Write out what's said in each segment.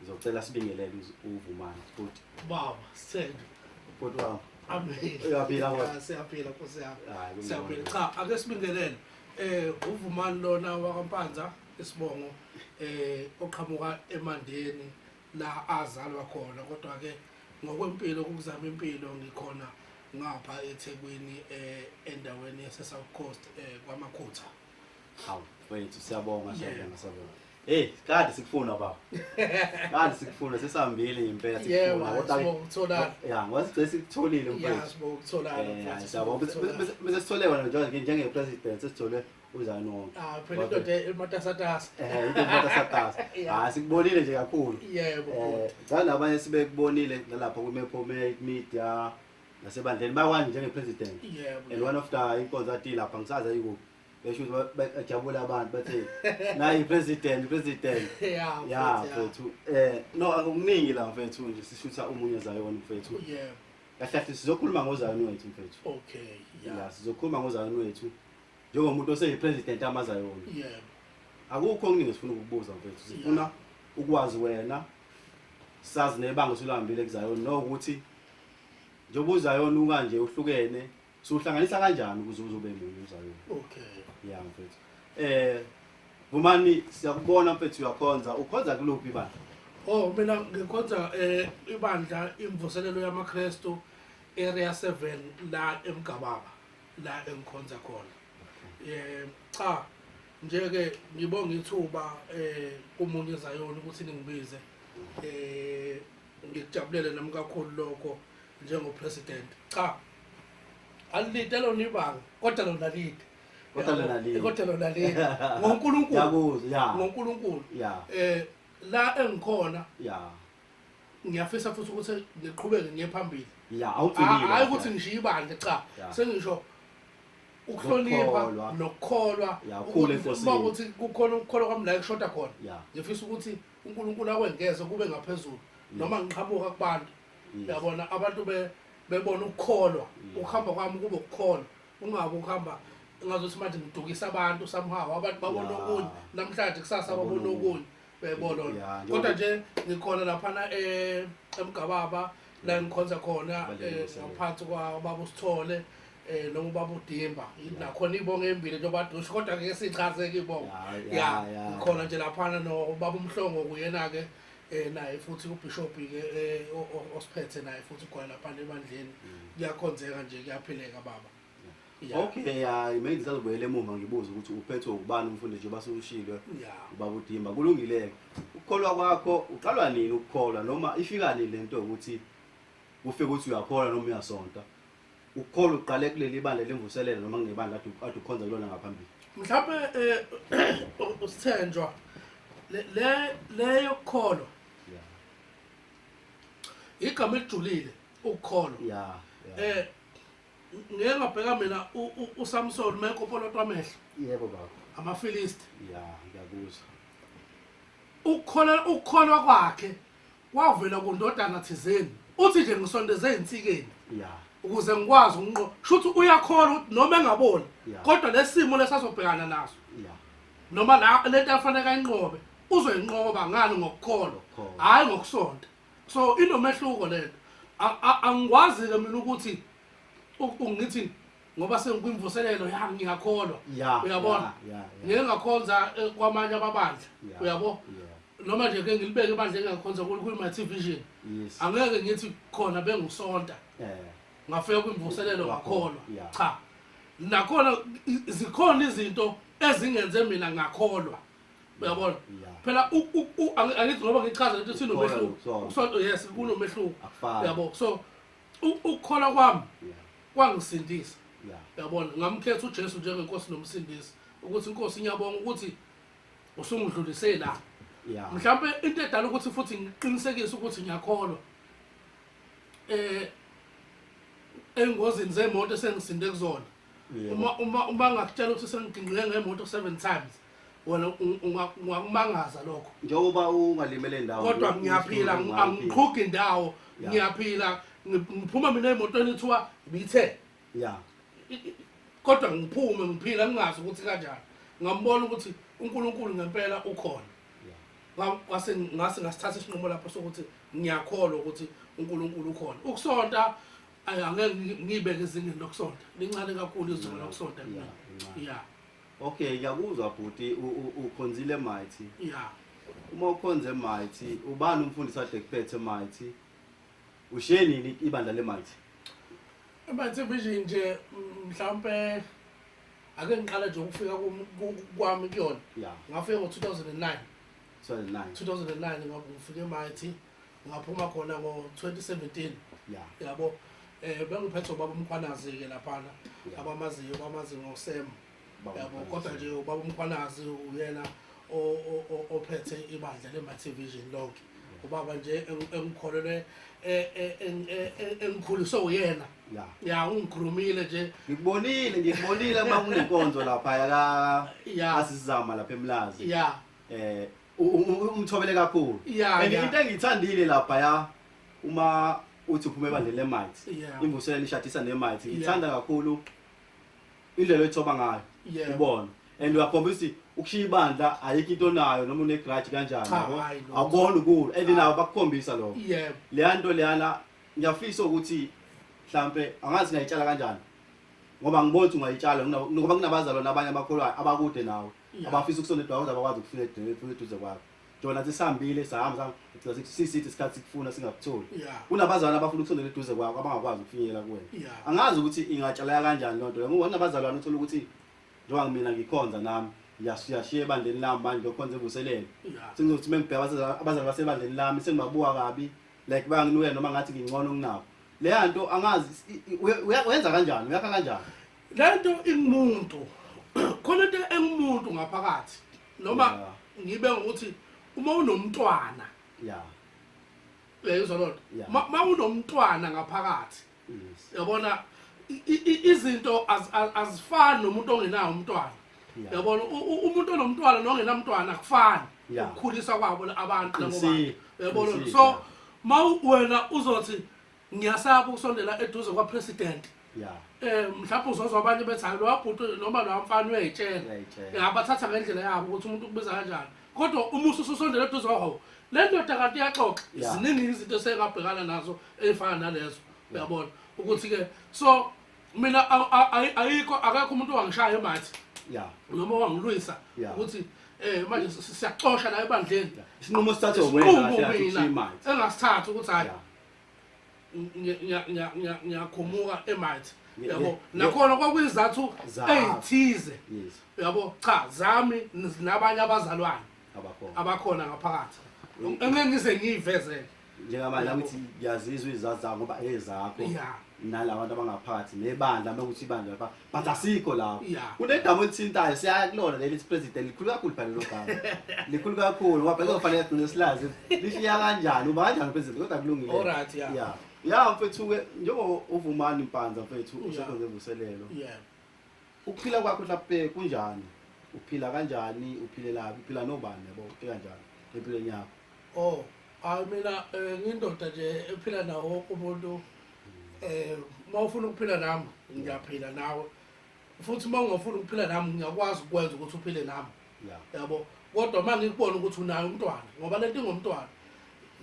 Ngizocela sibingelele uz- uVumani futhi. Baba, sithembe. Bhuti wami. Ameni. Uyaphila kodwa? Ya, Siyaphila Nkosi yami. Hayi, kungcono. Siyaphila. Cha, ake sibingelele. Eh uVumani lona wakaMpanza isibongo eh oqhamuka eMandeni la azalwa khona kodwa ke ngokwempilo ukuzama impilo ngikhona ngapha eThekwini eh endaweni yase South Coast eh kwaMakhutha. Hawu, wethu siyabonga, siyabonga, siyabonga. Hey, kade sikufuna baba. Kade sikufuna sesihambile ngempela sikufuna kodwa ukuthola. Yeah, wasigcina sikutholile mfethu. Yeah, sibo ukuthola. Eh, sabo bese sithole wena nje njenge president sesithole uzani wonke. Ah, phela indoda ematasatasa. Eh, into ematasatasa. Ah, sikubonile nje kakhulu. Yebo. Eh, ngani abanye sibekubonile nalapha ku Mepo Media nasebandleni bakwani njenge president. Yebo. And one of the inkonzo athi lapha ngisaza yikuphi. besho ukuthi ba- ba- bajabule abantu bathi nayi president president Yeah, ya mfethu, mfethu eh no akukuningi la mfethu nje sishutha umunye zayona mfethu yeah. Yeah, kahle kahle sizokhuluma ngozayona wethu mfethu okay, yeah, ya sizokhuluma ngozayona wethu njengomuntu oseyipresident amazayona yeah. akukho okuningi sifuna ukukubuza mfethu sifuna ukwazi wena sazi nebanga osulihambile kuzayona nokuthi njengoba uzayona ukanje uhlukene So uhlanganisa kanjani ukuze uzobe munye uZayoni? Okay. Yeah mfethu. Eh Vumani siyakubona mfethu uyakhonza. Ukhonza kuluphi bandla? Oh mina ngikhonza eh ibandla imvuselelo yamaKristu area 7 la eMgababa la engikhonza khona. Eh cha nje ke ngibonga ithuba eh kumunye Zayoni ukuthi ningibize. Eh ngikujabulele nami kakhulu lokho njengo president cha alide lona ibanga kodwa lona lide kodwa lona lide kodwa lona lide ngoNkulunkulu yakuzo ya ngoNkulunkulu ya eh la engikhona ya ngiyafisa futhi ukuthi ngiqhubeke ngiye phambili ya awugcinile hayi ukuthi ngishiye ibandla cha sengisho ukuhlonipha nokukholwa ukuba ukuthi kukhona ukukholwa kwami la kushoda khona ngifisa ukuthi uNkulunkulu akwengeze kube ngaphezulu noma ngiqhamuka kubantu yabona abantu be- bebona ukukholwa ukuhamba kwami kube ukukholwa kungabi ukuhamba ngazothi manje ngidukisa abantu somehow abantu babona Ya. okunye namhlanje kusasa Babona babona okunye. okunye uyayibona Ya, lona njengoba- kodwa nje ngikhona laphana eh, emgababa la ngikhonza khona Balele eh, umsebenzi. ngaphansi kwababa usithole um noma ubaba udimba nakhona ibongo embili njengoba dusha kodwa ngeke siyichazeke ibongo Ya, ya ya, ya. ngikhona nje laphana nobaba umhlongo kuyena-ke eh naye futhi ubishop ke eh, o- o- osiphethe naye futhi ugwala lapha ebandleni kuyakhonzeka nje kuyaphileka baba Yeah. okay hayi mina ngisazobuyela emuva ngibuze ukuthi uphethwe ubani umfundi nje basushilwe Yeah. ubaba udimba kulungileke ukukholwa kwakho uqalwa nini ukukholwa noma ifika nini lento yokuthi ufike ukuthi uyakholwa noma uyasonta UPaul uqale kuleli bandla lemvuselelo noma kungebandla adu- ade ukhonza kulona ngaphambili. mhlawumbe um usithenjwa le- le- le yokukholwa Yeah. igama elijulile ukukholwa Yeah. yeah. eh ngeke ngabheka mina u- u- uSamson mekopolotwa amehlo Yebo baba. amafilisti Yeah, ngiyakuzwa. ukukholwa ukukholwa kwakhe wavela kundodana thizeni uthi nje ngisondeze ezinsikeni ya ukuze ngikwazi ukunqo shuthi uyakholwa ukuthi noma engaboni Yeah. kodwa lesimo lesazobhekana naso ya noma la lento afanele ayinqobe uzoyinqoba ngani ngokukholwa Ngokukholwa. hayi ngokusonta so inomehluko lento A- a- angikwazi ke mina ukuthi u- ungithi ngoba sengikwimvuselelo yami ngiyakholwa Yeah, uyabona yeah, yeah, yeah. ngeke ngakhonza eh, kwamanye amabandla Yeah, uyabo yeah. noma nje ke ngilibeke ebandla engingakhonza kulo kwi-my t vision Yes. angeke ngithi khona bengisonta Eh, ngafika kwimvuselelo Ngakholwa, ngakholwa yeah. cha nakhona i- zikhona izinto ezingenze mina ngakholwa uyabona Yeah. phela u- u- u- angi- angithi ngoba ngichaza lento sinomehluko Ukholwa, ukholwa. Ukusonta, yes kunomehluko Akufani. uyabo so U- ukukholwa kwami Yeah. kwangisindisa Yeah. yabona ngamkhetha ujesu njengenkosi nomsindisi ukuthi inkosi ngiyabonga ukuthi usungidlulise la Yeah. mhlawumbe into edala ukuthi futhi ngiqinisekise ukuthi ngiyakholwa eh engozini zemoto esengisinde kuzona Yeah. uma uma uma ngakutshela ukuthi sengigingqike ngemoto seven times wena ung- unga- ungakumangaza lokho njengoba ungalimele indawo kodwa ngi- ngiyaphila ngi- ngi- angiqhugi indawo Ya. ngiyaphila ngi- ngiphuma mina emotweni kuthiwa ibithe ya I- i- kodwa ngiphume ngiphila ngingazi ukuthi kanjani ngambona ukuthi unkulunkulu ngempela ukhona ya Nga- ngase ngase ngasithatha isinqumo lapho sokuthi ngiyakholwa ukuthi unkulunkulu ukhona ukusonta ay, angeke ngi- ngiyibeke ezingeni lokusonta lincane kakhulu izolo lokusonta Ya, lincane. ya Okay ngiyakuzwa bhuti ukhonzile mighty. Yeah. Uma ukhonze mighty ubani umfundisi ade kuphethe mighty? Ushiye nini ibandla le mighty? Mighty vision nje mhlawumbe ake ngiqala nje ukufika kwami kuyona. Yeah. Ngafika ngo 2009. 2009. 2009 ngoba ngifike mighty. ngaphuma khona ngo-2017 yeah. yabo um bengiphethwe ubaba umkhwanazi-ke laphana yeah. abamaziyo bamazi ngosem yabo kodwa nje ubaba umkhwanazi uyena ophethe ibandla le-multivision lonke ubaba nje engikholelwe e, e, e, engikhuliswe uyena ya ungikhulumile nje ngikubonile ngikubonile uma kunenkonzo lapha yaka asizama lapha emlazi ya eh umthobele kakhulu and into engiyithandile lapha ya uma uthi uphuma ebandleni lemites imvuselelo ishadisa nemites ngiyithanda kakhulu indlela oyithoba ngayo ubona and uyakhombisa ukuthi ukushiya ibandla ayikho into onayo noma unegrudge kanjani awubona ukulo and nabo bakukhombisa lokho leya nto leyana ngiyafisa ukuthi mhlampe angazi ngayitshala kanjani ngoba ngibona ukuthi ungayitshala ngoba kunabazalwane abanye abakholwayo abakude nawe abafisa ukusola eduze abakwazi ukufika eduze kwakho jona athi sihambile sahamba sisithi isikhathi sikufuna singakutholi kunabazalwane abafuna ukusondela eduze kwakho abangakwazi ukufinyelela kuwena angazi ukuthi ingatshaleka kanjani loo nto le ngoba nabazalwane uthole ukuthi njengoba mina ngikhonza nami yashiya ebandleni lami manje ngiyokhonza evuselele sengizokuthi uma ngibheka abazali basebandleni lami sengibabuka kabi like banginukela noma ngathi ngingcono kunabo leya nto angazi uyenza kanjani uyakha kanjani lento ingumuntu khona into engumuntu ngaphakathi noma ngibe ngokuthi uma unomntwana ya uyayizwa lona uma unomntwana ngaphakathi yabona izinto azifani nomuntu ongenawo umntwana yabona umuntu onomntwana nongenamntwana akufani ukukhulisa kwabo abantu nabo bantu yabona so ma wena uzothi ngiyasaba ukusondela eduze kwapresident ya um mhlawumbe uzozwa abanye bethi hayi lowa bhuti noma lowa mfana uyayitshela uyayitshela ya bathatha ngendlela yabo ukuthi umuntu ukubiza kanjani kodwa uma ususondela eduze kwawo le ndoda kanti iyaxoxa Ya. ziningi izinto esengabhekana nazo ey'fana nalezo uyabona ukuthi-ke so mina a- a- ayi- ayikho akekho umuntu owangishaya emathi ya noma wangilwisa Ya. ukuthi um manje si- si- siyaxosha la ebandleni isinqumo sithathwe isinqumo wena mina kahle imali engasithathi ukuthi hhayi Ya. ngiyakhumuka emight yabo nakhona kwakuyizathu eyithize yabo cha zami nabanye abazalwane abakhona ngaphakathi engeke ngize ngiyivezele njengamanje la ukuthi ngiyazizwa izizathu zami ngoba ezakho nalabantu abangaphakathi nebandla uma ukuthi ibandla lapha but asikho lapho Yeah. kunegama olithintayo siya kulona leli president likhulu kakhulu phela lelo gama likhulu kakhulu ngoba phela kufanele sigcine silazi lishiya kanjani uba kanjani president kodwa kulungile Alright, yeah. yeah yeah mfethu ke njengoba uvumani mpanza mfethu Yeah. usekhonze vuselelo Yeah. ukuphila kwakho hlape kunjani uphila kanjani uphilelaphi uphila nobani yabo uphila kanjani empilweni yakho Oh, Hayi mina eh, ngindoda nje ephila nawo wonke umuntu eh uma ufuna ukuphila nami ngiyaphila nawe futhi uma ungafuni ukuphila nami ngiyakwazi ukwenza ukuthi uphile nami Yeah. yabo kodwa uma ngikubona ukuthi unayo umntwana ngoba lento ingomntwana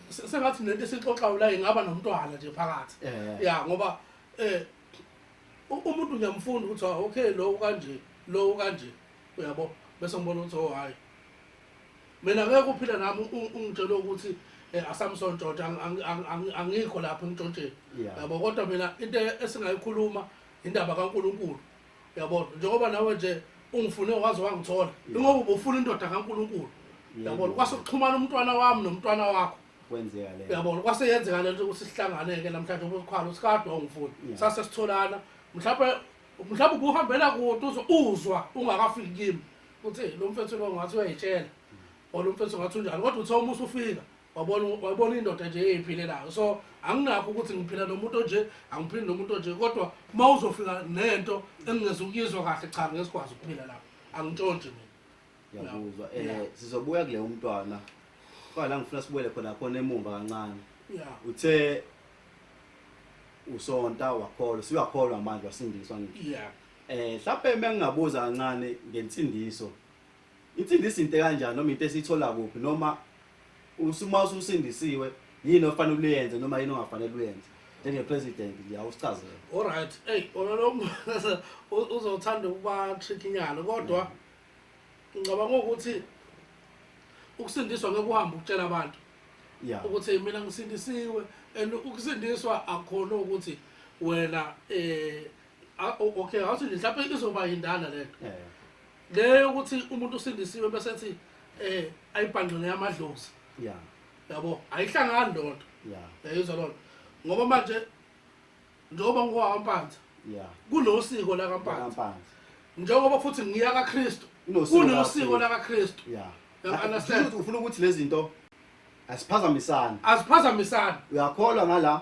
Se- sengathi nento esixoxayo la ingaba nomntwana nje phakathi Eh. ya ngoba eh u- umuntu ngiyamfunda ukuthi ah, okay lo kanje lo kanje uyabo bese ngibona ukuthi oh hayi Mina ngeke uphile nami ungitshela ukuthi eh, aSamson George angikho lapha emtshontsheni. Yabo kodwa mina into esingayikhuluma indaba kaNkuluNkulu. Yabo njengoba nawe nje ungifune waze wangithola. Ingoba ubufuna indoda kaNkuluNkulu. Yabo kwase kuxhumana umntwana wami nomntwana wakho. Kwenzeka le. Yabo kwase yenzeka le nto ukuthi sihlangane ke namhlanje ubukhwalo sikade wangifuni. Sase sitholana. Mhlawumbe mhlawumbe ubuhambela kude uzwa ungakafiki kimi. uthi lo mfethu lo ngathi uyayitshela or lo mfethu ngathi unjani kodwa uthe uma usufika wabona wabona indoda nje eyiphilelayo so anginakho ukuthi ngiphila nomuntu onje angiphili nomuntu onje kodwa uma uzofika nento engingeza ukuyizwa kahle cha ngesikwazi ukuphila lapho angintshontshe mina ngiyakuzwa um Yeah. sizobuya kule umntwana kodwa la ngifuna sibuyele khona khona emumva kancane ya uthe usonta wakholwa siwakholwa manje wasindiswa ngisho ya Eh mhlawumbe mengingabuza kancane ngensindiso. Insindiso into kanjani noma into esithola kuphi noma usuma ususindisiwe yini ofanele uyenze noma yini ongafanele uyenze njenge president nje awusichazele. All right. Hey, wena lo uzothanda ukuba trick inyalo kodwa mm. ngicabanga ukuthi ukusindiswa ngeke uhambe ukutshela abantu yeah ukuthi mina ngisindisiwe and ukusindiswa akhona ukuthi wena eh Ah, o- okay awuthi nje mhlawumbe izoba yindala le nto Eh, le yokuthi umuntu usindisiwe bese ethi um ayibhangqele yamadlozi ya yabo ayihlangani loo nto ya yayizwa loo nto ngoba manje njengoba ngowampanza ya kunosiko lakampanza Kampanzi. njengoba futhi ngiya kakristu Kunosiko kunosiko lakaKristu. lakaKristu ya You understand? Kusho ukuthi ufuna ukuthi lezi zinto aziphazamisani aziphazamisani uyakholwa ngala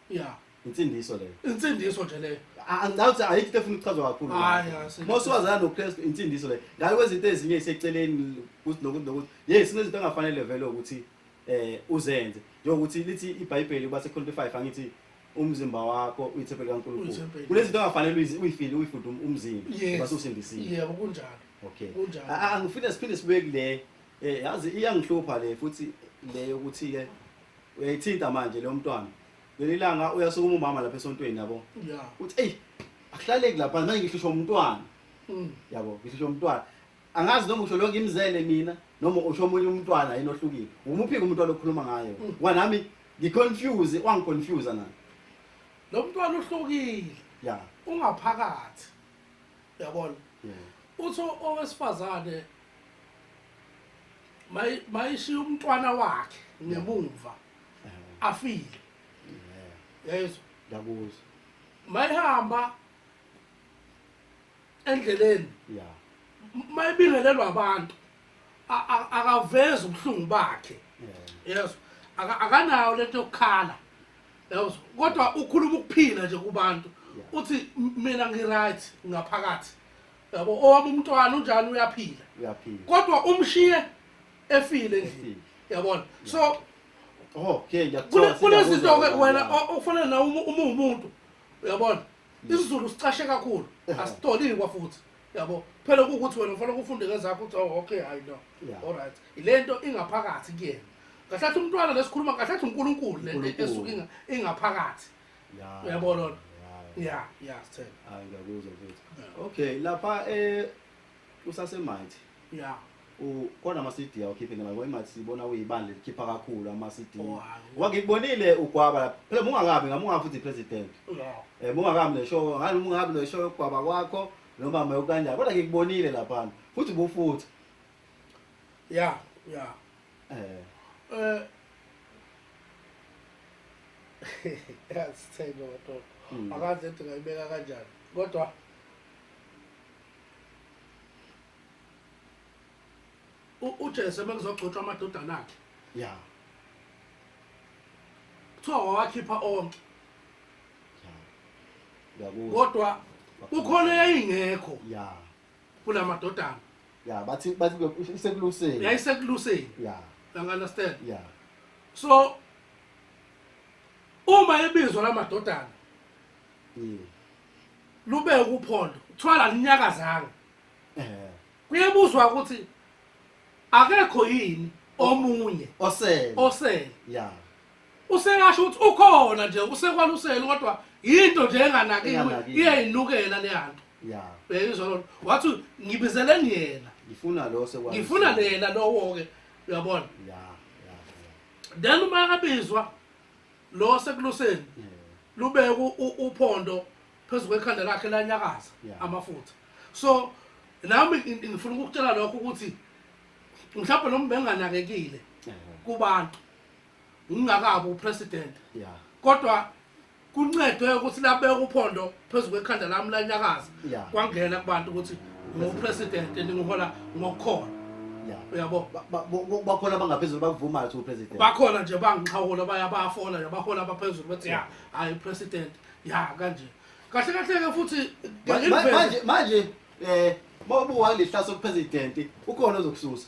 ya insindiso leyo insindiso nje leyo A- angicabi ukuthi ayikho into efuna ukuchazwa kakhulu Hhayi, hhayi, uma usuwazana nokristu insindiso leyo ngale kwezinto ezinye iseceleni ukuthi nokuthi nokuthi ye sinezinto engafanele vele ukuthi um uzenze njengokuthi lithi ibhayibheli kuba sekhonto five angithi umzimba wakho uyithempeli kankulunkulu Uyithempeli. kunezinto engafanele uyizi- uyifile uyifunde um- umzimba Yes. ngoba sewusindisiwe yebo kunjalo okay Kunjalo. A- a- angifile siphinde sibuye kule eh yazi iyangihlupha le futhi le yokuthi ke uyayithinta manje leyo mntwana leli langa uyasukuma umama lapha esontweni yabo ya uthi eyi akuhlaleki lapha manje ngihlushwa umntwana Mm. yabo ngihlushwa umntwana angazi noma usho lo ngimzele mina noma usho omunye umntwana yini ohlukile ngumuphi-ke umuntu walokhuluma ngayo Mm. ngoba nami ngiconfuse wangiconfusa nami lo mntwana uhlukile ya ungaphakathi yabona yeah. uthi o- owesifazane mayishiya umntwana wakhe ngemumva afile yezwa ngiyakuzwa mayihamba endleleni ya mayibingelelwa abantu akavezi ubuhlungu bakhe yezwa akanayo lento yokukhala yezwa kodwa ukhuluma ukuphila nje kubantu uthi mina ngiright ngaphakathi yabo owami umntwana unjalo uyaphila uyaphila kodwa umshiye efile endlini yabona so okay ngiyakuthola kunezinto ke wena okufanele na uma umuntu uyabona isizulu sicashe kakhulu asitolini kwafuthi yabo phela ukuthi wena ufanele ufunde ngezakho uthi oh, okay hayi no all right ilento ingaphakathi kuyena kahlathi umntwana lesikhuluma kahlathi uNkulunkulu lento esuke ingaphakathi Yeah. Uyabona lona? Yeah. Yeah, yeah, sithele. Hayi ngiyakuzwa mfethu. Yeah. Okay, lapha eh usasemighty. Yeah. U kona ama CD awukhiphe ngala ngoba imathi sibona uyibandla elikhipha kakhulu ama CD. Oh, hayi. Ngoba ngikubonile ugwaba lapha. Phela mungakabi ngamunga futhi president. Yeah. Eh mungakabi neshow, ngani mungakabi neshow yokugwaba kwakho noma mayokanjani. Kodwa ngikubonile lapha. Futhi bufuthi. Yeah, yeah. Eh. Eh. Yasithenge kodwa. Mm. Akaze ethi ngayibeka kanjani. Kodwa uJesu ebekuzogcotshwa amadodana akhe. Yeah. Kuthiwa wawakhipha onke. Yeah. Kodwa kukhona eyayingekho. Yeah. kula madodana ya bathi bathi ke isekuluseni yayisekuluseni ya you understand ya so uma ebizwa la madodana Mm. lube ukuphondo kuthiwa la linyakazanga Eh. kuyebuzwa ukuthi akekho yini omunye osele osele ya usekasho ukuthi ukhona nje usekwaluseni kodwa yinto nje enganakiwe Enganakiwe. iyayinukela leyanto ya uyayizwa lona wathi ngibizeleni yena ngifuna lo sekwa ngifuna lena lowo-ke uyabona ya ya then uma abizwa lo sekuluseni ya lubeke u- u- uphondo phezu kwekhanda lakhe lanyakaza Yeah. amafutha so nami ngi- ngi- ngifuna ukukutshela lokho ukuthi mhlawumbe lo mbenganakekile ya kubantu ngingakabi upresident yeah kodwa kuncedwe ukuthi labeka uphondo phezu kwekhanda lami lanyakaza Yeah. kwangena kubantu ukuthi ngupresident ndingihola ngokukhona yeah uyabo Ba- ba- bo- bo- bakhona abangaphezulu bakuvumayo ukuthi upresident bakhona nje bangixhawula baya bayafola nje bahola abaphezulu bathi ya hayi president ya kanje kahle kahle ke futhi Ma- ma- ngiliveze. manje manje eh mawubuka lehlaso kupresident ukhona ozokususa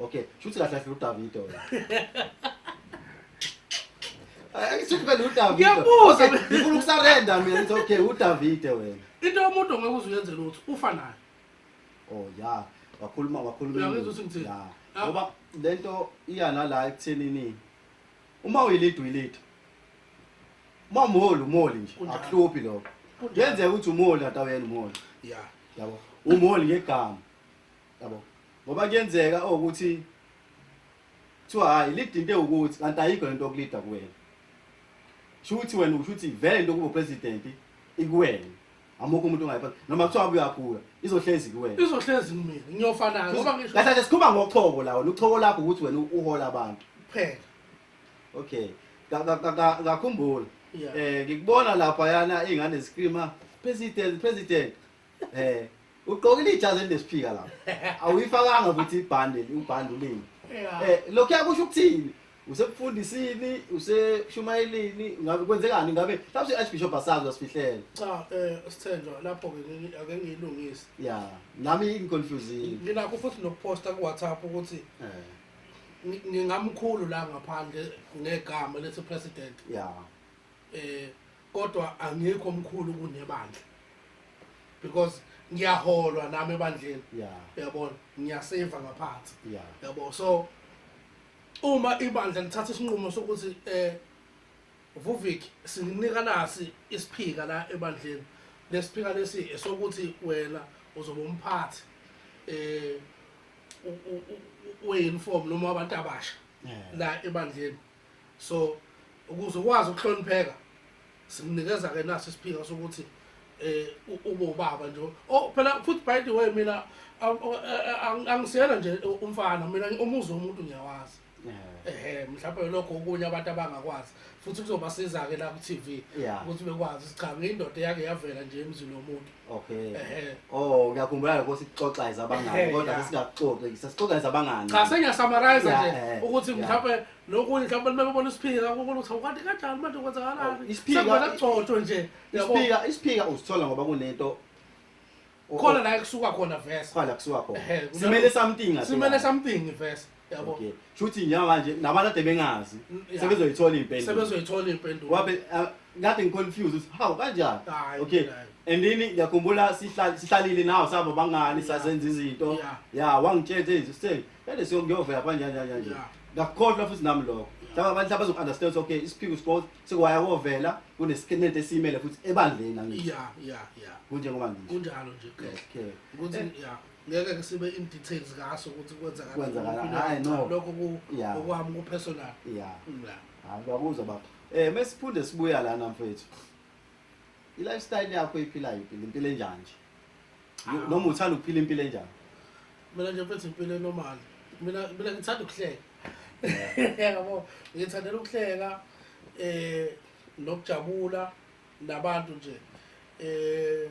Okay, shuthi kahle kahle uDavide wena. Ayisithi phela uDavide. Ngiyabuza. Okay, Ngifuna ukusarenda mina ngithi okay uDavide wena. Into yomuntu ngeke uze uyenze lutho, ufa nayo. Oh yeah, wakhuluma wakhuluma. Uyangizwa ukuthi ngithini? Yeah. Ah. Ngoba lento iya nala ekuthenini uma uyilidwa uyilidwa. Uma umholi umholi nje, Kunjalo. akuhluphi lokho. Kunjalo. Kuyenzeka ukuthi umholi atawuyena umholi. Yeah. Yabo. Umholi ngegama. yabo ngoba kuyenzeka ukuthi kuthiwa hhayi lida into ewukuthi kanti ayikho le nto yokulida kuwena sho ukuthi wena usho ukuthi vele into yokuba upresidenti ikuwena amukho umuntu ongayiphatha noma kuthiwa abuye akhula izohlezi kuwena izohlezi kumina ngiyofanayo ngoba ngisho kahle nje sikhuluma ngochoko la wena uchoko lakho ukuthi wena uhola abantu kuphela okay Ka- ka- ka- ka- ngakhumbula Yeah. um ngikubona lapha yana iy'ngane zikrima president president Eh, ugqokile ijazi elesiphika lapha. Awuyifakanga futhi ibhande, ubhande ulimi. Eh, lokho yakusho ukuthini? Usebufundisini, useshumayelini, ngabe kwenzekani ngabe? Mhlawumbe iArchbishop asazi wasifihlela. Cha eh sithenjwa lapho ke ngeke ake ngiyilungise. Yeah, nami ingiconfusile. Nginakho futhi nokuposta ku WhatsApp ukuthi Eh, ngi- ngingamkhulu la ngaphandle ngegama lethi president. yeah. Eh Kodwa angikho mkhulu kunebandla because ngiyaholwa nami ebandleni yeah uyabona ngiyaseva ngaphansi yeah yabo so uma ibandla lithatha isinqumo sokuthi eh Vuvik sininika nasi isiphika la ebandleni lesiphika lesi esokuthi wena uzoba umphathi eh u- u- u- we-uniform noma abantu abasha Yeah. la ebandleni so ukuze ukwazi ukuhlonipheka simnikeza ke naso isiphinga sokuthi eh ube ubaba nje oh phela futhi by the way mina angisiyena nje umfana mina umuzi womuntu ngiyawazi ehe mhlawumbe lokho okunye abantu abangakwazi futhi kuzobasiza-ke la ku-tv ukuthi bekwazi ukuthi cha ngiyindoda eyake yavela nje emzini womuntu Okay. Ehhe. Oh, ngiyakhumbula lokho sikuxoxa izabangani Ehhe, kodwa ya. sesingaqoqi sesixoxa izabangani. cha sengiyasamarize Ya, nje eh, ukuthi ya. mhlawumbe nokunye mhlawumbe uma bebona isiphika kukhona ukuthi awukade kanjani manje Oh, kwenzakalani isiphika- sekuvela kugcotshwe nje yabo Isiphika isiphika usithola ngoba kunento khona la ekusuka khona vese khona kusuka khona. Ehhe, kunalo- Simele something ngathi. simele something vese yabo Okay. Shuthi njengoba nje nabantu ade bengazi Yeah. sebezoyithola impendulo. sebezoyithola impendulo Wabe ah, kade ngiconfused ukuthi how kanjani? Hayi, Okay. hayi. And then ngiyakhumbula sihlal- sihlalile nawo sabo bangani Yeah. sasenza izinto. Yeah. Ya wangitshela ukuthi hey sitheni kade siyokuyovela kanjani kanjani kanjani. Yeah. Ngakukhohlwa futhi nami lokho. Yeah. Laba abantu abazo understand okay isiphiko sports sekwaya kovela kunesikhenete esimele futhi ebandleni angithi. ya ya ya kunjengoba ngisho kunjalo nje Chris. okay Ukuthi, Yeah. ya ngeke ke sibe in details ngaso ukuthi kwenzakala Kwenzakala, kuphi na- hhayi, no. lokho ku- Yeah. okwami ku-personal ya Mm, yeah. hayi ngiyakuzwa baba um mesiphinde sibuya lana mfethu i-lifestyle yakho iphilayo iphila impilo enjani nje Yo- Ah. noma uthanda ukuphila impilo enjani mina nje mfethu impilo enormal mina mina ngithanda ukuhleka yabo ngithandela ukuhleka eh nokujabula nabantu nje eh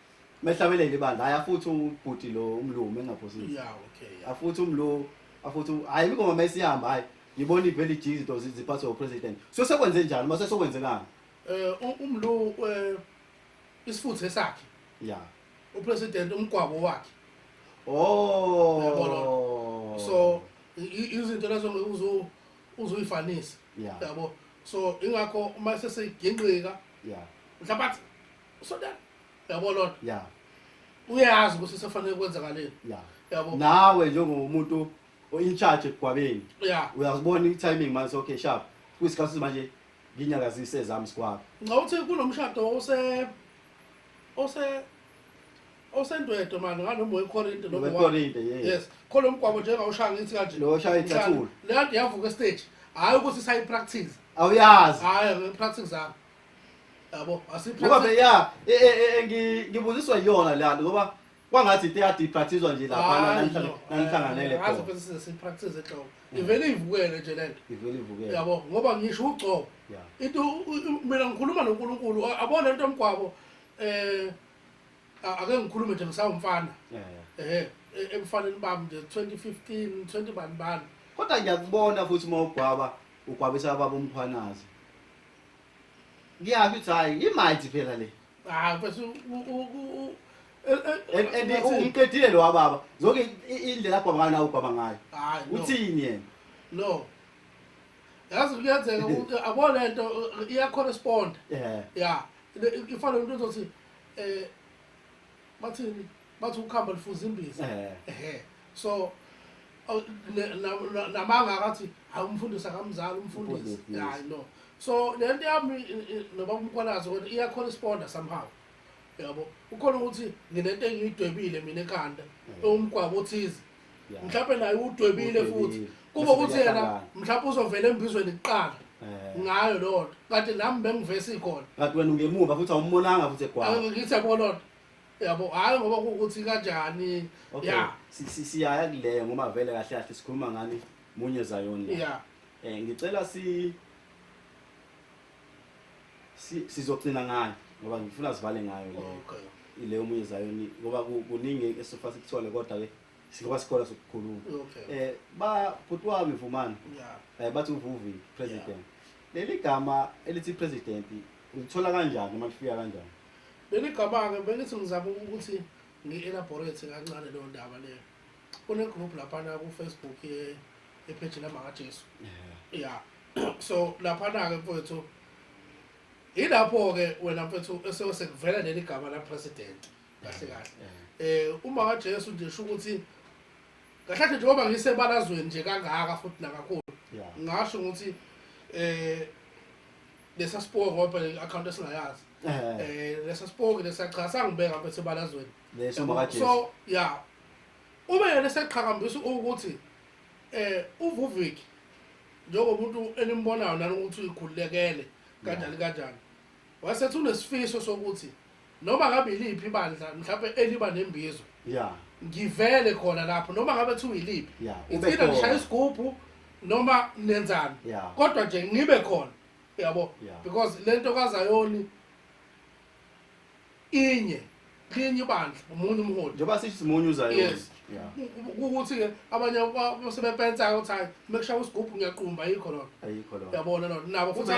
mehlabelela ibandla hayi afuthi ubhuti lo umlungu mengaphosisi Yeah, okay. Yeah. afuthi umlungu afuthi u- hayi ingoma mesihamba hayi ngibona ivele ijika izinto zi- ziphathwe upresident so sekwenze njani uma sesokwenzekanga Eh u- umlu eh isifuthe sakhe, ya upresident umgwabo wakhe. Uyabona? o So i- i- izinto lezo ngeke uzu uzuyifanisa. Yeah. Yabo. So ingakho uma sesegingqika ya mhlawumbe athi usodana yabo lona ya uyazi ukuthi sefanele kwenzakaleni ya yabo nawe njengomuntu in charge egwabeni ya uyazibona i-timing manje okay sharp kwisikhathi sokuthi manje nginyakazise ezami sigwaba ngicabanga ukuthi kunomshado ose ose osendwedo mani nganoma wekorinte noma owa- wekorinte yes yes khona umgwabo njengawushaya ngithi kanje Lo oshaya icathulo. leyo nto yavuka estage hhayi ukuthi sayipractice awuyazi hhayi ngipractice zami yabo ngoba asiphethe phela ya e- e- e- ngi- ngibuziswa yiyona le nto ngoba kwangathi into eyadiprathizwa nje laphana Hayi, nanihlale- no. nanihlanganele Eh, ngaze khona phela size sipractice ehloko ivele ivukele nje lento ivele ivukele yabo ngoba ngisho ugcobo ya into u- u- mina ngikhuluma noNkulunkulu a- abone into mgwabo eh a- ake ngikhulume nje ngisawumfana ya, ya. eh e- ebufaneni bami nje 2015 20 bani bani kodwa ngiyakubona futhi uma ugwaba ugwabisa baba umkhwanazi ngiyaphi ukuthi hhayi imayithi phela le hayi mfethu and umqedile lo wababa zonke indlela abhaba ngayo nawo ubhaba ngayo uthini yena no yazi kuyenzeka ukuthi abo le nto iyacorresponda ya ifanele umuntu ozothi um bathini bathi ukuhamba lifuza imbiza Eh. ehe so aw- ne- na- na- namanga akathi hayi umfundisi akamzali umfundisi Umfundisi, yes. hayi no so le nto yami i- i- nobaba umkwalazi kodwa iyacorresponda somehow yabo ukhona ukuthi nginento engiyidwebile mina ekhanda ewumgwabo othize Yeah. mhlawumbe naye udwebile futhi Udwebile. kuba Bese ukuthi yena kuyahlangana. mhlawumbe uzovela embizweni kuqala Eh. ngayo loo nto kanti nami bengivesi khona Kanti wena ungemuva futhi awumbonanga futhi egwala. ngithi yabo loo nto yabo hhayi ngoba kuwukuthi kanjani okay ya si- si- siyaya kuleyo ngoba vele kahle kahle sikhuluma ngani munye zayon la ya um ngicela si si- sizogcina ngayo ngoba ngifuna sivale ngayo leyo okay ileyo munye zayoni ngoba ku- kuningi esifa sikuthole kodwa-ke singaba sikhona sokukhuluma okay um ba bhuti wami vumani ya um bathi uvuvi president leli gama elithi president ulithola kanjani uma lifika kanjani Benigabake bengithi ngizama ukuthi ngi-elaborate kancane leyo ndaba leyo. Kune-group laphana ku-Facebook ye- yepheji lamakaJesu. Yeah. So laphana-ke mfowethu yilapho-ke wena mfowethu ese- sekuvela leli gama lapresident kahle kahle. Eh uma kaJesu nje sho ukuthi kahle kahle njengoba ngisebalazweni nje kangaka futhi nakakhulu Yeah. ngasho ukuthi eh lesa sipoki ngoba le account esingayazi Eh, eh lesa sipoki lesa cha sangibeka lapha esebalazweni leso Yabo? makajesu so ya uma yena eseqhakambisa ukuthi eh uvuvik njengomuntu enimbonayo nani ukuthi uyikhulekele kanjani kanjani wasethi unesifiso sokuthi noma ngabe yiliphi ibandla mhlawumbe eliba nembizo ya ngivele khona lapho noma ngabe kuthiwa yiliphi ya ube ngithina nishaya khona isigubhu noma nenzani ya kodwa nje ngibe khona yabo ya because lento kazayoni inye linye ibandla umunye umholi njengoba sithi simunye uzayoni yes ukuthi-ke abanye sebepensa ukuthi hayi mekushaya usigubhu ngiyaqumba ayikho lona ayikho lona yabona lona nabo futhi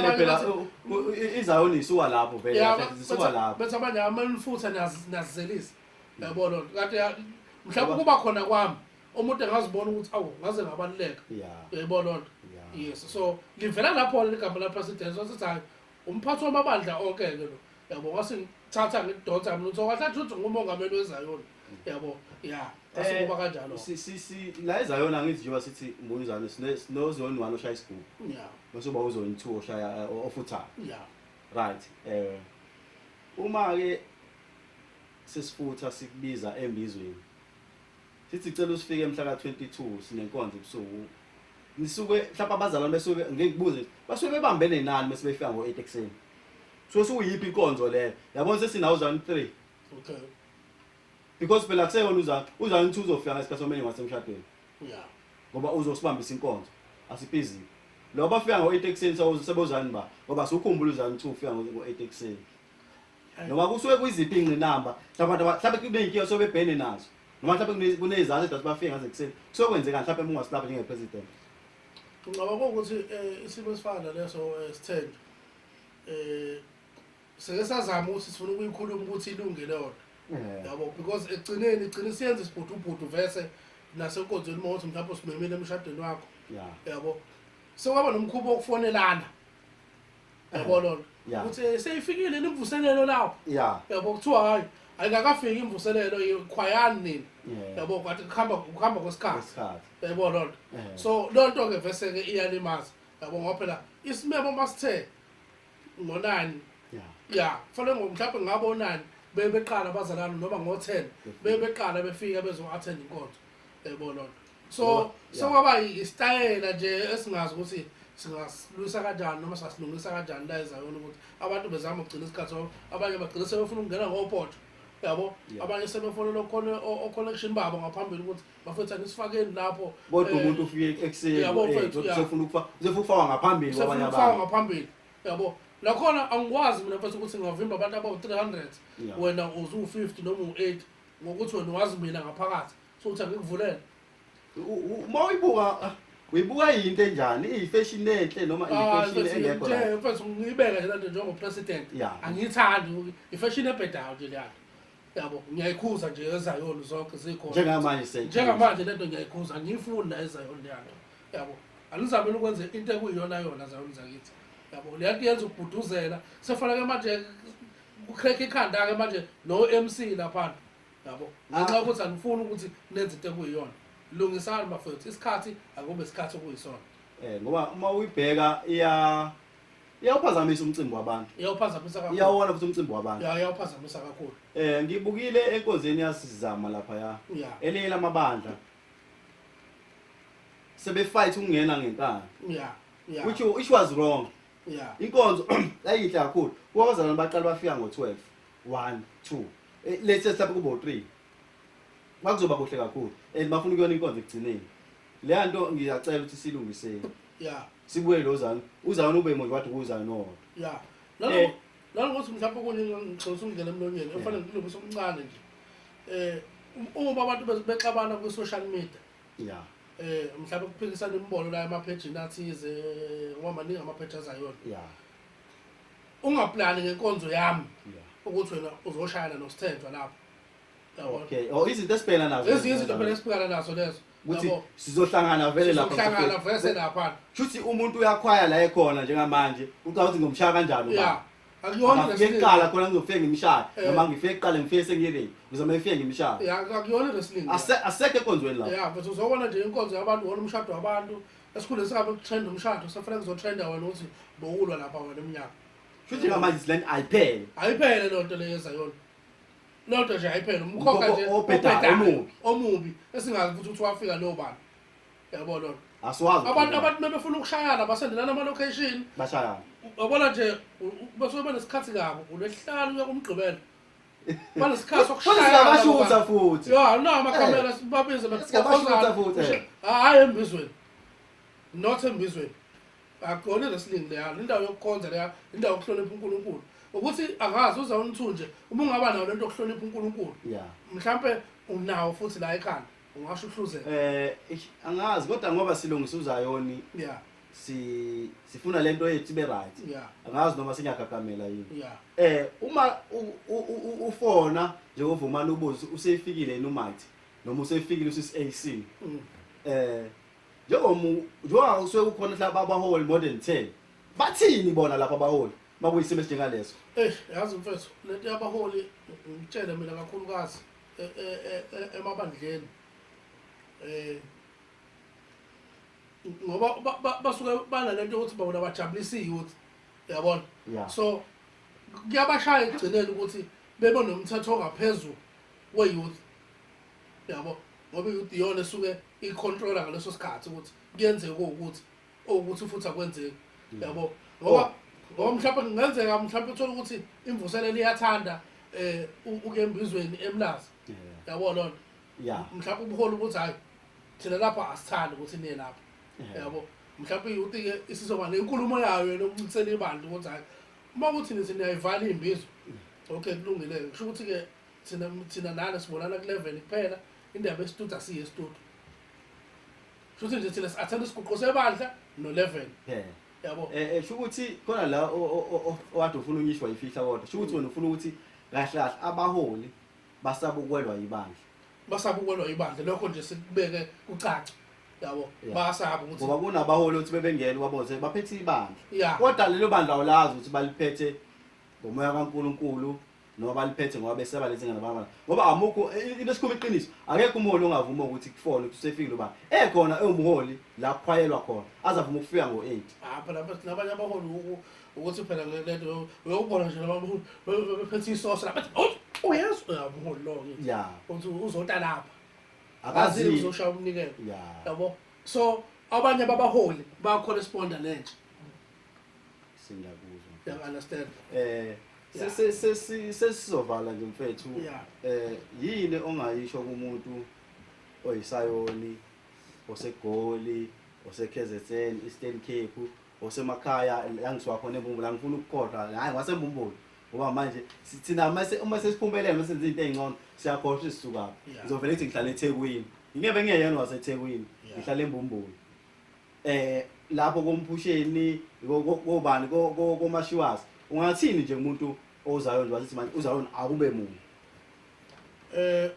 izayoni isuka lapho veleisuka lapho bethi abanye amanifutha nazizelisa mm. yabo lona kanti mhlawumbe kuba khona kwami umuntu engazibona ukuthi awu ngaze ngabaluleka yayibona lona yes so livela lapho-ke ligama lapresident so sithi hayi Umphathi wamabandla onke-ke lo yabo wasithatha ngikudonsa mlutho kahle athi uthi ngumongameli wezayoni yabo ya asikuba eh, kanjalo la ezayoni angithi njengoba sithi mbunizane sinozoni one oshaya isigubu bese uba uzoni two oshaya eh, ofuthayo right um uma-ke sesifutha sikubiza embizweni Sithi sicela usifike mhla ka-22 sinenkonzo ebusuku. Nisuke mhlawumbe abazalwane besuke ngeke ngibuze nje, basuke bebambene nani uma sebefika ngo-8 ekuseni. Suke sukuyiphi inkonzo leyo? Yabona sesinawo uzalwane 3. Okay. Because phela kuseyona uzalwane, uzalwane 2 uzofika ngesikhathi somenye wasemshadweni. Yeah. Ngoba uzosibambisa inkonzo. Asipizile. Lo bafika ngo-8 ekuseni sebozani ba? Ngoba siwukhumbula uzalwane 2 ufika ngo-8 ekuseni. ngoba kusuke kuyiziphi iy'ngqinamba mhlawumbe abantu mhlawumbe kube yinkinga osuke bebhene nazo noma mhlawumbe kuney'zathu edathi bafike ngazo ekuseni kusuke kwenzekani mhlawumbe uma ungasilapha njengepresident ngicabanga ukuthi um isimo esifana naleso um eh, sithende um eh, seke sazama ukuthi sifuna ukuyikhuluma ukuthi ilungile yona eh. yabo because ekugcineni igcine siyenza isibhudubhudu vese nasenkonzweni uma ukuthi mhlawumbe simemile emshadweni wakho yabo sekwaba nomkhuba wokufonelana yabo lona Yeah. ukuthi seyifikile yini imvuselelo lapho ya yabo kuthiwa hayi ayikakafiki imvuselelo ikhwayani nini Yeah. yabo kwathi kuhamba kuhamba kwesikhathi isikhathi yabo lona Eh. so lonto ke vese ke iyalimaza yabo ngoba phela isimemo masithe ngonani ya ya kufanele ngo- mhlawumbe ngabonani bebe beqala abazalwane noma ngo-ten bebe beqala befika bezo-attend inkonzo yabo lonto so sokwaba isitayela nje esingazi ukuthi singasilwisa kanjani noma singasilungisa kanjani la ezayona ukuthi abantu bezama ukugcina isikhathi so abanye bagcina sebefuna ukungena ngopoto yabo abanye sebefonela okhona oconnection babo ngaphambili ukuthi bafethu anisifakeni lapho kodwa eh, umuntu ufike ekuseni yabo eh, mfethu usefuna ukufa usefuna ukufaka ngaphambili kwabanye abantu usefuna ngaphambili yabo lakhona angikwazi mina mfethu ukuthi ngavimba abantu abawu 300 wena uzu 50 noma u 8 ngokuthi wena wazi mina ngaphakathi Thutha ngikuvulele. Uma uyibuka ah, uyibuka yinto enjani? Iyifashion enhle noma Ah, iyifashion mfethu, engekho ngithe, right? mfethu, ngiyibeke nje lento njengopresident Ya. angiyithandi ifashini ebhedayo nje leyana yabo ngiyayikhuza nje ezayoni zonke zikhona Njengamanje seyikhuza. njengamanje lento ngiyayikhuza angiyifuni la ezayoni leyana yabo anizamele ukwenza into ekuyiyona yona zayoni zakithi yabo leya nto yenza ukubhuduzela sefaneke manje kukhrekha ikhanda-ke manje no-mc laphana yabo ngenxa yokuthi anifuni ukuthi nenze into ekuyiyona lungisani bafethu isikhathi akube isikhathi okuyisona eh ngoba uma uyibheka iya iyawuphazamisa umcimbi wabantu iyawuphazamisa kakhulu iyawona futhi umcimbi wabantu ya iyawuphazamisa kakhulu eh ngibukile enkonzweni yasizama lapha ya elinye lamabandla sebefight ukungena ngenkani ya ya which which was wrong ya inkonzo yayinhle kakhulu kwabazalwane baqala bafika ngo12 one two Eh, let's just lapho kube u-three kwakuzoba kuhle kakhulu and bafuna ukuyona inkonzo ekugcineni leya nto ngiyacela ukuthi silungiseni ya sibuye lo zani uzani ube manje wathi kuzani owodwa ya Eh. nalo nalo ukuthi mhlawumbe kunye ngixosa umngena emlonyeni efanele ngilungise omncane nje eh um- uma abantu be- bexabana ku social media ya eh mhlawumbe kuphikisana imibono la emaphejini athize ngoba maningi amapheji azayona ya ungaplani ngenkonzo yami ukuthi wena uzoshayana nosithenjwa lapho yabo okay oh izinto esibhekana nazo ezinye izinto phela esibhekana nazo lezo ukuthi yabo sizohlangana vele lapha sizohlangana vese lapha shuthi umuntu uyakhwaya la ekhona njengamanje ucabanga ukuthi ngomshaya kanjani ya ubaba akuyona ngifike wrestling kuqala khona ngizofike ngimshaya Eh. noma ngifike kuqala ngifike sengiyeleni ngizoma ngifike ngimshaya ya akuyona wrestling Ase- asekho ekonzweni lapho ya but uzobona nje inkonzo yabantu wona umshado wabantu esikhundleni sabo ukutrenda umshado safanele kuzotrenda wena ukuthi bowulwa lapha wena emnyaka futhi ngamanje silani ayiphele ayiphele loo nto leyo ezayona loo nto nje ayiphele umkhokha nje obhedayo omubi esingazi ukuthi ukuthi wafika leyo bantu yabo loo nto abantu abantu mebefuna ukushayana basendelana ama-location bashayana yabona nje basuke banesikhathi kabo ulwesihlanu uya kumgqibelo banesikhathi sokushayabashutha futhi ya no amakhamera eh. babize bakhozana futhi eh. hayi embizweni not embizweni akugone wrestling leya indawo yokukhonza leya indawo yokuhlonipha uNkulunkulu ukuthi angazi uza unithunje uma ungaba nayo lento yokuhlonipha uNkulunkulu mhlambe unawo futhi la ekhanda ungasho uhluzela eh angazi kodwa ngoba silungisa uzayoni yeah si sifuna lento yethu ibe right yeah. angazi noma singagagamela yini yeah. eh uma ufona nje uvumana ubuze useyifikile yini umathi noma useyifikile usis AC mm. eh njengomu njengoba usuke ukhona la babaholi more than 10 bathini bona lapha abaholi makuyisimo esinjengaleso eh yazi mfethu lento yabaholi ngitshele mina kakhulukazi e, e, e, emabandleni eh ngoba basuke banalento ukuthi bona bajabulisa iyouth yabona so kuyabashaya ekugcineni ukuthi bebe nomthetho ongaphezulu we-youth yabo ngoba i-youth iyona esuke iyicontrola ngaleso sikhathi ukuthi kuyenzeka ukuthi okuthi futhi akwenzeki mm. yabo ngoba oh. ngoba mhlawumbe kungenzeka mhlawumbe uthole ukuthi imvuselelo iyathanda um ukuyembizweni emlazi yabo loo nto Yeah. mhlawumbe ubuholi ukuthi hayi thina lapha asithandi ukuthi niye lapha Yeah. yabo mhlawumbe yuthi ke isizoba nenkulumo yayo yena ukuncikisela ibandla ukuthi hayi uma kuthi nithi niyayivala imbizo okay kulungile kusho ukuthi ke thina thina nana sibonana ku-level kuphela indaba esitudu asiye esitudu kusho ukuthi nje thina si-athanda isiguqo sebandla no-level Yeah. yabo Eh eh, sho ukuthi khona la o- o- o- o- owade ufuna unyishwa yifihla kodwa. Sho ukuthi wena ufuna ukuthi kahle kahle abaholi Basaba ukwelwa yibandla. Basaba ukwelwa yibandla lokho nje sikubeke kucaca. Yabo. Yeah. Basaba ukuthi Ngoba kunabaholi othi bebengena kwaboze baphethe ibandla. Yeah. Kodwa lelo bandla awulazi ukuthi baliphethe ngomoya kaNkuluNkulu noma baliphethe ngoba beseba lezi ngane baba. Ngoba amukho i- into esikhuluma iqiniso. Akekho umholi ongavuma ukuthi kufona ukuthi usefikile uba ekhona ewumholi la kukhwayelwa khona. Azavuma ukufika ngo-8. apha lapha sinabanye abaholi u- u- ukuthi phela lento uyobona nje laba buholi bephethe isoso lapha uyazi uyabuholi lo ngithi ya uthi uzota lapha akazi akazi uzoshaya umnikelo ya yabo so abanye babaholi bacorresponda nentsha singakuzwa you understand eh Yeah. sesi- sesi- sesizovala nje mfethu Yeah. eh yini ongayisho kumuntu oyisayoni osegoli oseKZN Eastern Cape osemakhaya la ngisuka khona embumbulu angifuni ukukhohlwa hhayi ngwasembumbulu ngoba manje thina uma sesiphumelele uma senza into ey'ngcono siyakhohlwa ukuthi sisukaphi ngizovele kuthi ngihlala ethekwini ngingebe ngingeyena wasethekwini ngihlala embumbulu um eh, lapho komphusheni kobani komashiwazi ungathini nje umuntu ozayo nje wasithi manje uzayo akube muntu um eh,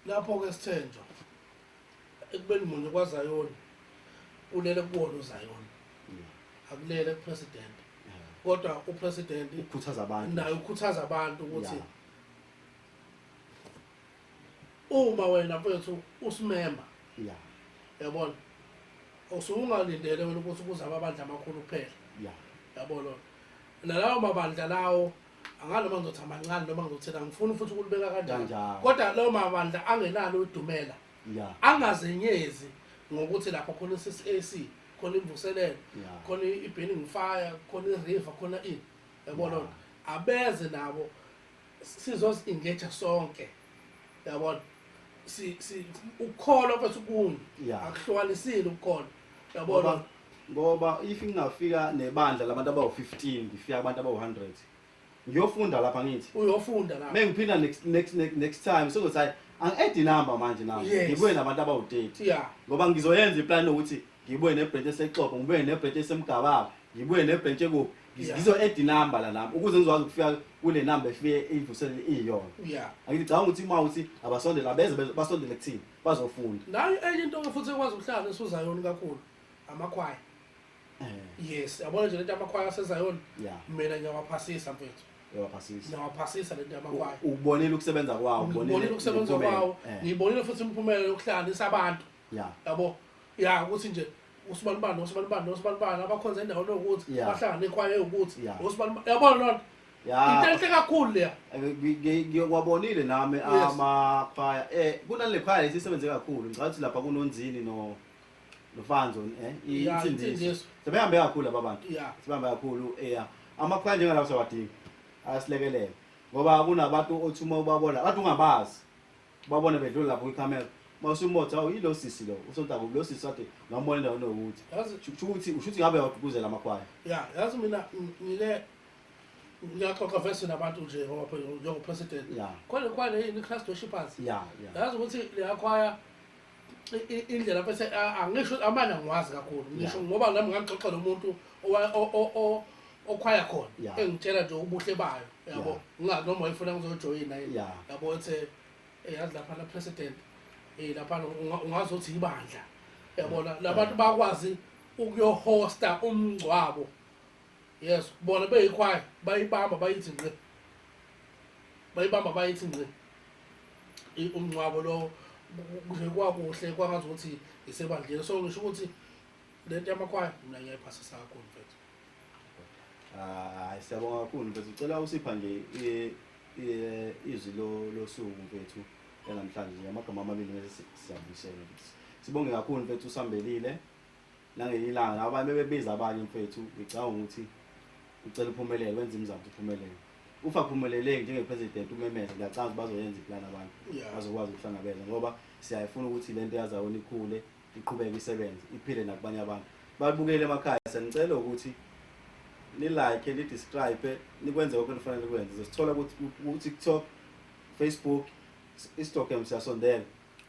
lapho-ke sithenjwa ekubeni munye kwazayoni ulele kuwona uzayoni akulele kupresident kodwa upresident ukhuthaza abantu naye ukhuthaza abantu ukuthi uma wena mfethu usimemba yeah yabona usungalindele wena ukuthi kuzaba abandla amakhulu kuphela yeah yabona nalawo mabandla lawo angazi noma ngizothi amancane noma ngizothini angifuni futhi ukulibeka kanjalo Kanjalo. kodwa lawo mabandla angenalo udumela ya angazenyezi ngokuthi lapha khona i-CCAC khona imvuselelo ya khona i-burning fire khona i-river khona ini yabona Yeah. abeze nabo sizozi-engage sonke yabona si, si, ukukholwa kwethu kunye ya akuhlukanisile ukukholwa yabona Ngoba- ngoba if ngingafika nebandla labantu abawu-15 ngifika abantu abawu-100 ngiyofunda lapha ngithi uyofunda la mengiphinda next, next, next, next time sengothi hayi angi-add inamba manje nami Yes. ngibuye nabantu abawu-30 yeah ngoba ngizoyenza iplani yokuthi ngibuye nebhrentshi esexoxo ngibuye nebhrentshi esemgababa ngibuye nebhrentshi ekuphi Ngiz- Yeah. ngizo-add inamba la nami ukuze ngizokwazi ukufika kule namba efike ivuselele iyiyona yeah angithi cabanga ukuthi uma uthi abasondela beze beze- basondele kuthini bazofunda nayo enye into ke futhi ekwazi ukuhlala nesuzayoni kakhulu amakhwaya eh. yes yabona nje lento amakhwaya asezayoni mina ngiyawaphasisa mfethu uyawaphasisa ngiyawaphasisa lento yamakwaya ukubonile ukusebenza kwawo ngibonile ukusebenza kwawo eh. ngibonile futhi imiphumela yokuhlanganisa abantu yabo ya ukuthi nje usibanibani osibanibani nosibanibani abakhonza endaweni yokuthi Yeah. bahlangane ikhwaya ewukuthi Yeah. osibanibani yabona loo nto ya into enhle kakhulu leya Eh, ngi- ngi- ngiyokwabonile nami Yes. amakhwaya um kunale khwaya lesi isebenze kakhulu ngicabanga ukuthi lapha kunonzini no- nofanzo um Yeah, insindiso insindiso. sebehambe kakhulu laba bantu ya sihambe kakhulu ya amakhwaya njengalawo siyawadinga ayasilekelela ngoba kunabantu othi uma ubabona abantu ungabazi Babone bedlula lapho kwikhamera. Mawusho umbotho awu yilo sisi lo. Usontaku lo sisi wathi ngambona endaweni yokuthi. Yazi Shu- Sho ukuthi usho ukuthi ngabe yawagqugquzela amakhwaya. ya yazi mina ng- ngike ngiyaxoxa vese nabantu nje ngoba phela njengopresident. Ya. Khona kwale yini i-class dorshippers. Ya, ya. Yazi ukuthi leyakhwaya indlela bese angisho amana ngiwazi kakhulu ngisho ngoba nami ngangixoxa nomuntu okhwaya khona engitshela nje ubuhle bayo yabo ngingazi noma wayefuna ngizojoyina yini yabo ethe eh, yazi lapha la president eh lapha ungazi ukuthi ibandla yabona labantu bakwazi ukuyohosta umngcwabo yes bona beyikhwaya bayibamba bayithi ngqe bayibamba bayithi ngqe umngcwabo lo kuze kwakuhle kwangazi ukuthi isebandleni so ngisho ukuthi lento yamakhwaya mina ngiyayiphasisa kakhulu mfethu hayi siyabonga kakhulu mfethu ucela usipha nje izwi losuku mfethu enamhlanje amagama amabili bese siyabuyisela sibonge kakhulu mfethu usambelile nangenye ilanga laba abanye bebebiza abanye mfethu ngicabanga ukuthi ucela uphumelele wenza imizamo ukuthi uphumelele ufa phumeleleki njenge-president umemeze ngiyacanga ukuthi bazoyenza iplani abantu Yeah. bazokwazi ukuhlangabeza ngoba siyayifuna ukuthi le nto yazawona ikhule iqhubeke isebenze iphile nakubanye abantu babukele emakhaya siyanicela ukuthi nilike nidescribe nikwenze konke enifanele nikwenze zosithola ukuthi ku-tiktok facebook instagram siyasondela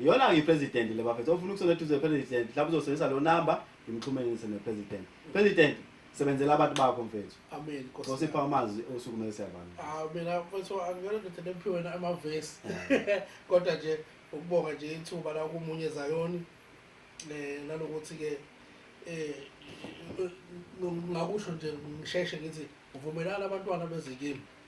Iyona ke president le bafethu ofuna ukusona eduze president lapho uzosebenzisa lo number ngimxhumenise ne president. President sebenzela abantu bakho mfethu. Amen. Nkosi. Osipha amazwi osukumele siyabana. Ah mina mfethu angiyona ndoda lephiwe na amavesi. Kodwa nje ukubonga nje ithuba la kumunye Zayoni eh nalokuthi ke eh ngakusho nje ngisheshe ngithi uvumelana abantwana bezikimi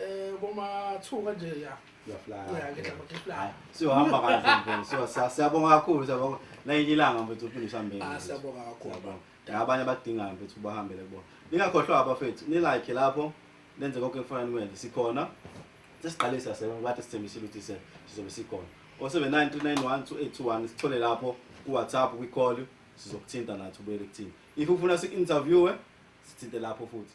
Eh koma two kanje ya. Uyaflaya. Ya ngidla ngiflaya. Siyohamba kanje mfana. Siyo siyabonga kakhulu siyabonga. Nayinye ilanga mfethu uphinde usambe. Ah siyabonga kakhulu. Nabanye abadingayo mfethu bahambele kubona. Ningakhohlwa abafethu. Ni like lapho. Nenze konke kufanele nikwenze. Sikhona. Sesiqale siyasebenza bathi sithembisile ukuthi se sizobe sikhona. 0793912821 sithole lapho ku WhatsApp kwi call sizokuthinta nathi ubuyele kuthina. If ufuna si interviewe sithinte lapho futhi.